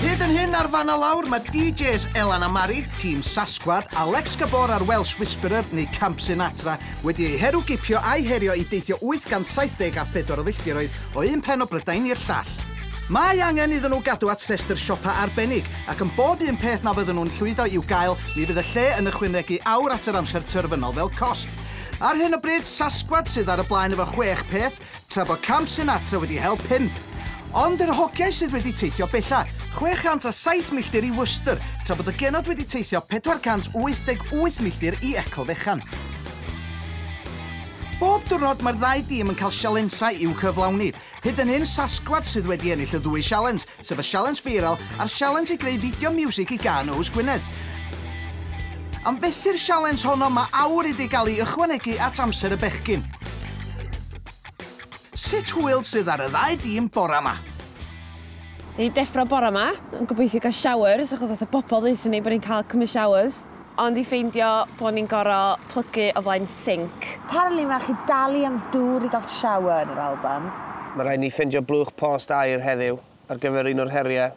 Hyd yn hyn ar fan a lawr, mae DJs Elan a Mari, Tîm Sasquad, Alex Gabor a'r Welsh Whisperer neu Camp Sinatra wedi eu heru gipio a'u herio i deithio 874 o filltiroedd o un pen o Brydain i'r llall. Mae angen iddyn nhw gadw at rhestr siopa arbennig, ac yn bob un peth na fydden nhw'n llwyddo i'w gael, mi fydd y lle yn ychwanegu awr at yr amser terfynol fel cosb. Ar hyn o bryd, Sasquad sydd ar y blaen efo chwech peth, tra bo Camp Sinatra wedi hel pump. Ond yr hogiau sydd wedi teithio bellach, 607 milltir i Worcester, tra bod y genod wedi teithio 488 milltir i Ecl Fechan. Bob diwrnod, mae'r ddau dîm yn cael sialensau i'w cyflawni. Hyd yn hyn, Sasquatch sydd wedi ennill y ddwy sialens, sef y sialens viral a'r sialens i greu fideo miwsig i gân Oes Gwynedd. Am fethu'r sialens honno, mae awr wedi cael ei ychwanegu at amser y bechgyn. Sut hwyl sydd ar y ddau dîm bore ma? Ni deffro bore ma, yn gobeithio cael showers achos nath y bobl ddeutha ni bod ni'n cael cymryd showers. Ond i ffeindio bod ni'n goro plygu o flaen sinc. Apparently mae rhaid chi dalu am dŵr i gael shower yn yr Alban. Mae rhaid ni ffeindio blwch post aer heddiw ar gyfer un o'r heriau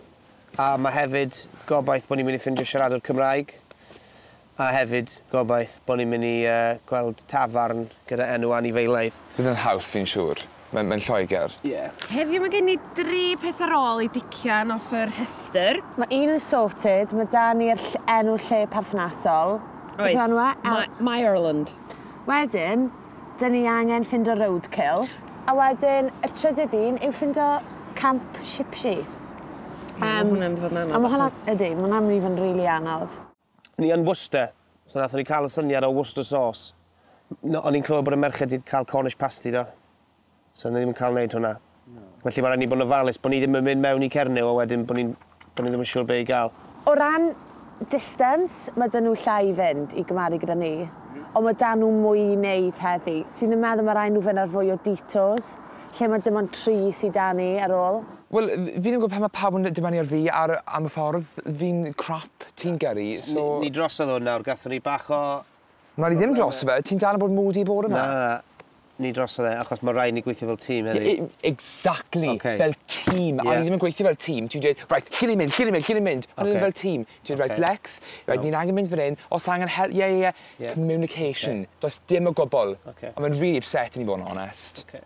a mae hefyd gobaith bod ni'n mynd i ffeindio siaradwr Cymraeg a hefyd gobaith bod ni'n mynd i gweld tafarn gyda enw anifeilaidd. Bydd yn haws fi'n siŵr. Mae'n mae'n Lloegr. Ie. Heddiw ma gen i dri peth ar ôl i dician off y rhestr. Ma un yn sorted, ma da ni'r ll- enw lle perthnasol. Oes. Beth yw enw e? El- Ma- Meyerland. Wedyn, da ni angen ffindo roadkill. A wedyn y trydydd un yw ffindo camp Shipshy. Ie ma hwnna'n mynd i fod yn anodd achos... A ma hwnna, ydi, ma hwnna'n mynd i fod yn rili anodd. Ni yn Worcester, so nathon ni ca'l y syniad o Worcester Sauce. N- o'n i'n clywed bod y merched 'di ca'l Cornish Pasty do? So o'n ni ddim yn ca'l neud hwnna. Na. Felly ma' raid ni bod yn ofalus bo' ni ddim yn mynd mewn i Cernyw a wedyn bo' ni'n bo' ni ddim yn siŵr be' i ga'l. O ran distance, ma' 'da nhw llai i fynd i gymaru gyda ni. Ond ma' 'da nhw mwy i neud heddi. Swn i'n meddwl ma' raid nhw fynd ar fwy o detours, lle ma' dim ond tri sy 'da ni ar ôl. Wel fi ddim yn gwybod pam mae pawb yn dibynnu ar fi ar am y ffordd fi'n crap ti'n gyrru so... Ni ni drosodd hwn nawr gathon ni bach o... Na ni ddim droso fe ti'n dal yn bod moody bore ma. Na ni drosodd e achos ma raid ni gweithio fel tîm heddi. I- i- exactly. Oce. Fel tîm a ni ddim yn gweithio fel tîm ti'n dweud reit lle ni'n mynd lle ni'n mynd lle ni'n mynd pan ni'n mynd fel tîm ti'n dweud reit Lex reit ni'n angen mynd fan 'yn os angen hel- ie ie ie communication does dim o gwbwl a ma'n rili ypsetting i fod yn onest. Oce.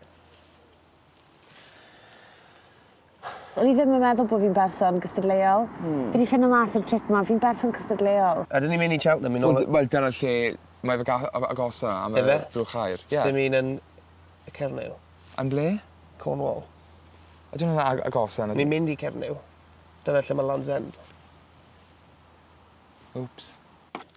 O'n i ddim yn meddwl bo' fi'n berson cystadleuol. Hmm. Fi 'di ffindo mas ar y trip 'ma fi'n berson cystadleuol. Ydyn ni'n myn' i Cheltenham i nôl y... Wel wel dyna lle mae fy ga- a- agosa am y... Ife? ...drwch aer. Ie. Sdim un yn y Cernyw? Yn ble? Cornwall. Ydyn nw'n ag- agosa na dy-... Ni'n mynd i Cernyw. Dyna lle ma' Land's End. Wps.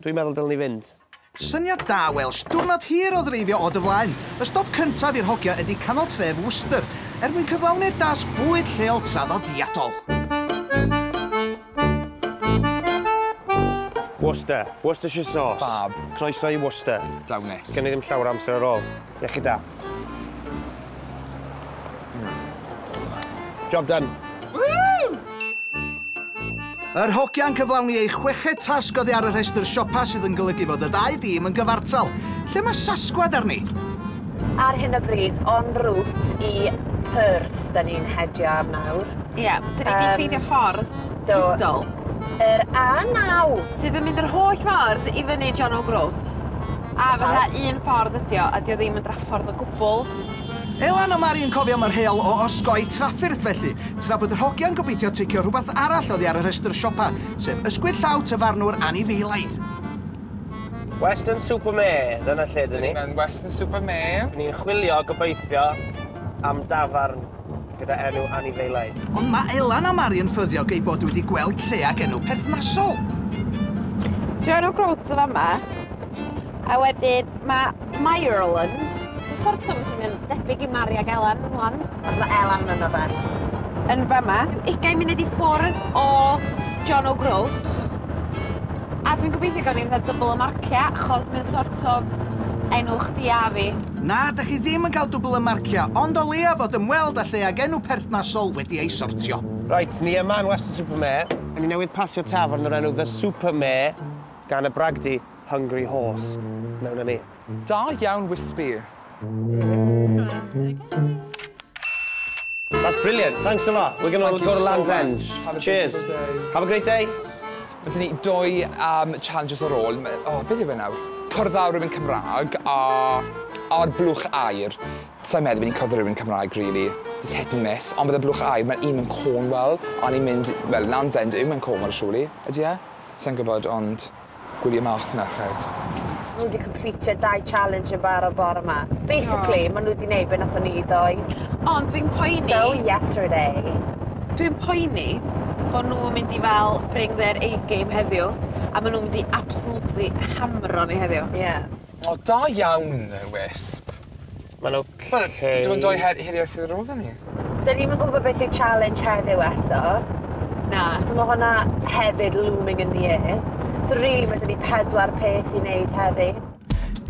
Dwi'n meddwl dylen ni fynd. Syniad da Welsh, diwrnod hir o ddreifio o dy flaen. Y stop cyntaf i'r hogia ydi canol tref Worcester, er mwyn cyflawni'r dasg bwyd lleol traddodiadol. Worcester, Worcestershire sauce. Fab. Croeso i Worcester. Dawn it. Sgen i ddim llawer o amser ar ôl. Iechyd da. Job done. Yr hogiau'n cyflawni eu chweched tasg oddi ar y rhestr siopa sydd yn golygu fod y dau dîm yn gyfartal. Lle mae Sasgwad arni? Ar hyn o bryd, on route i Perth, da ni'n hedio nawr. Ie, da ni wedi ffeindio ffordd. Do. Digidol. Yr A9! Sydd yn mynd yr holl ffordd i fyny John O'Groats. A fatha un ffordd ydi o, a 'di o ddim yn draffordd o gwbwl. Elan a Mari yn cofio am yr heol o osgoi trafferth felly, tra bod yr hogiau'n gobeithio ticio rhywbeth arall oddi ar y rhestr siopa, sef ysgwyd llaw Tyfarnwr anifeilaidd. Weston Super Mare, dyna lle 'dyn ni. Dyn ni mewn Weston Super Mare. Ni'n chwilio, gobeithio, am dafarn. gyda enw anifeiliaid. Ond mae Elan a Mari yn ffyddiog eu bod wedi gweld lle ag enw perthnasol. Dwi ar y groats o fama. A wedyn mae Myrland. Ti'n sort of sy'n mynd debyg i Mari ag Elan yn Land. Ond mae Elan yn yna fan. Yn fama. Ugain munud i ffwrdd o John O'Groats. A dwi'n gobeithio gawn ni fatha dybl o marciau achos mae'n sort of enw chdi a fi. Na, dych chi ddim yn cael dwbl y marciau, ond o leiaf fod ymweld â lle ag enw perthnasol wedi ei sortio. Reit, ni yma yn Weston Super Mare, a ni newydd pasio tafarn o'r enw The Super Mare gan y bragdy Hungry Horse. Mewn â ni. Da iawn Wispy. That's brilliant, thanks a lot. We're going to go to Land's End. Cheers. Have a great day. Ma' 'da ni dou yym challenges ar ôl ma' o beth yw e nawr? Cwrdd â rywun Cymrâg a a'r blwch aur. Sai'n meddwl bo' ni'n cwrdd â rywun Cymraeg rili. Jyst hit and miss on' bydd y blwch aur ma'r un mewn Cornwell a ni'n mynd wel Land's End yw mewn Cornwell surely? Ydi e? Sai'n gwbod ond gwylie mas merched. Nhw wedi completio dau challenge yn barod bore ma. Basically, oh. maen nhw wedi neud beth nathon ni ddoe. Ond dwi'n poeni... So yesterday. Dwi'n poeni bod nhw'n mynd i fel bring their A-game heddiw, a maen nhw'n mynd i absolutely hamro ni heddiw. Ie. Yeah. O, da iawn, Wisp. Mae'n ok. Wel, dim ond dou her- heriau sydd ar ôl 'da ni. Dyn ni'm yn gwybod beth yw challenge heddiw eto. Na. So mae hwnna hefyd looming in the air. So really mae 'da ni pedwar peth i wneud heddi.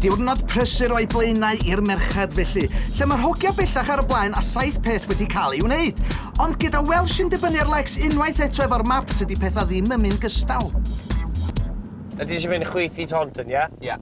Diwrnod prysur o'i blaenau i'r merched felly, lle mae'r hogia bellach ar y blaen a saith peth wedi cael ei wneud. Ond gyda Welsh yn dibynnu ar Lex unwaith eto efo'r map tydi pethau ddim yn mynd gystal. Ydy ti mynd chwythu Taunton, ie? Ie.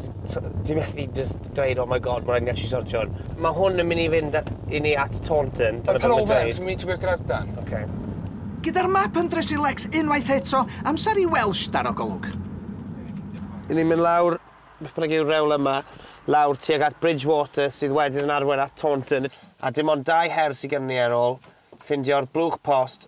t- ti methu jyst dweud oh my God ma' raid i ni actually sortio hwn. Ma' hwn yn myn' i fynd a- i ni at Taunton dyna be' ma'n dweud. Yn Palm Oval Grandan. Oce. Gyda'r map yn drysu Lex unwaith eto, amser i Welsh daro golwg. Yn ni'n mynd lawr beth bynnag yw'r rewl yma, lawr tuag at Bridgwater sydd wedyn yn arwain at Taunton a dim ond dau her sy gynnon ni ar ôl, ffindio'r blwch post,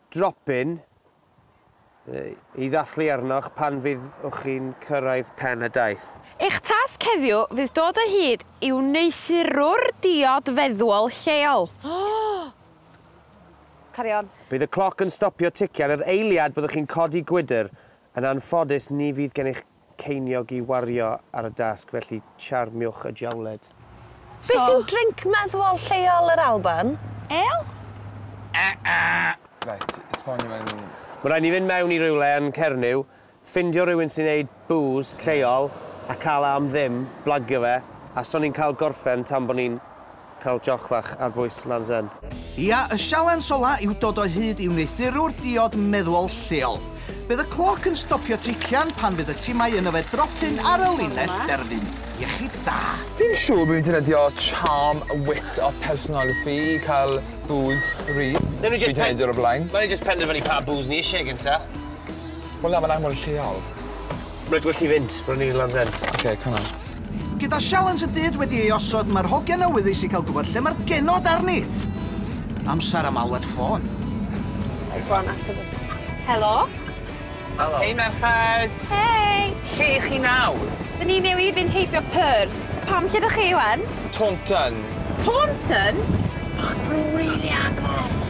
dropyn i ddathlu arnoch pan fyddwch chi'n cyrraedd pen y daith. Eich tasg heddiw fydd dod o hyd i wneuthurwr diod feddwol lleol. Carry on. Bydd y cloc yn stopio ticio ar yr eiliad byddwch chi'n codi gwydr, yn anffodus ni fydd gennych ceiniog i wario ar y dasg, felly charmiwch y diawled. Beth yw drinc meddwol lleol yr Alban? Ale? Reit, esbonio fe i mi. Ma' raid ni fynd mewn i rywle yn Cernyw, ffindio rywun sy'n neud bŵs lleol a ca'l e am ddim, blagio fe, a so ni'n ca'l gorffen tan bo ni'n Cael joch fach ar bwys Land's End. Ia, y sialens ola yw dod o hyd i wneuthurwr diod meddwol lleol. Bydd y cloc yn stopio tician pan fydd y timau yn yfed dropyn ar y linell derfyn. Iechyd da. Fi'n siŵr bo' fi'n defnyddio charm wit a personality i cael bŵs rhydd. Newn ni jyst pen- Fi 'di neud e o'r blaen. Newn ni jyst penderfynu pa bŵs ni isie gynta. Wel na, ma'n anfon lleol. Reit, well ni fynd. Ro'n ni yn Land's End. Ok, come on. Gyda sialens y dyd wedi ei osod, mae'r hogiau'n awyddus i cael gwybod lle mae'r genod arni! Amser am alwad ffôn. Go on, ateb y ffôn. Helo? Helo. Hei, merched! Hei! Lle ych chi nawr? Dyn ni newydd fynd heibio Perth. Pam, lle dych chi, ŵan? Taunton. Taunton? Fuck, mae nhw'n rili agos!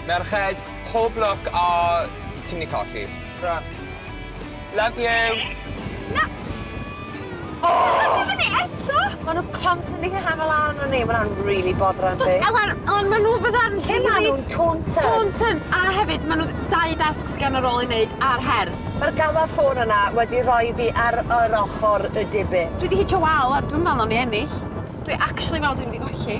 Merched, pob lwc a ti'n mynd i colli. Tara. Love you! Na! O! Ti fynnu eto? Ma' nw constantly yn hafal lan ar ni ma' wnna'n rili botheran fi. So Elen on' ma' nw fydda'n rili... Lle ma' nw'n Taunton? Taunton a hefyd ma' nw dau dasg sy gen o rôl i neud a'r her. Ma'r gamma ffôn yna wedi roi fi ar yr ochor y diben. Dwi 'di hitio wal ŵan dwi'm me'wl nawn ni ennill. Dwi actually me'wl dwi mynd i golli.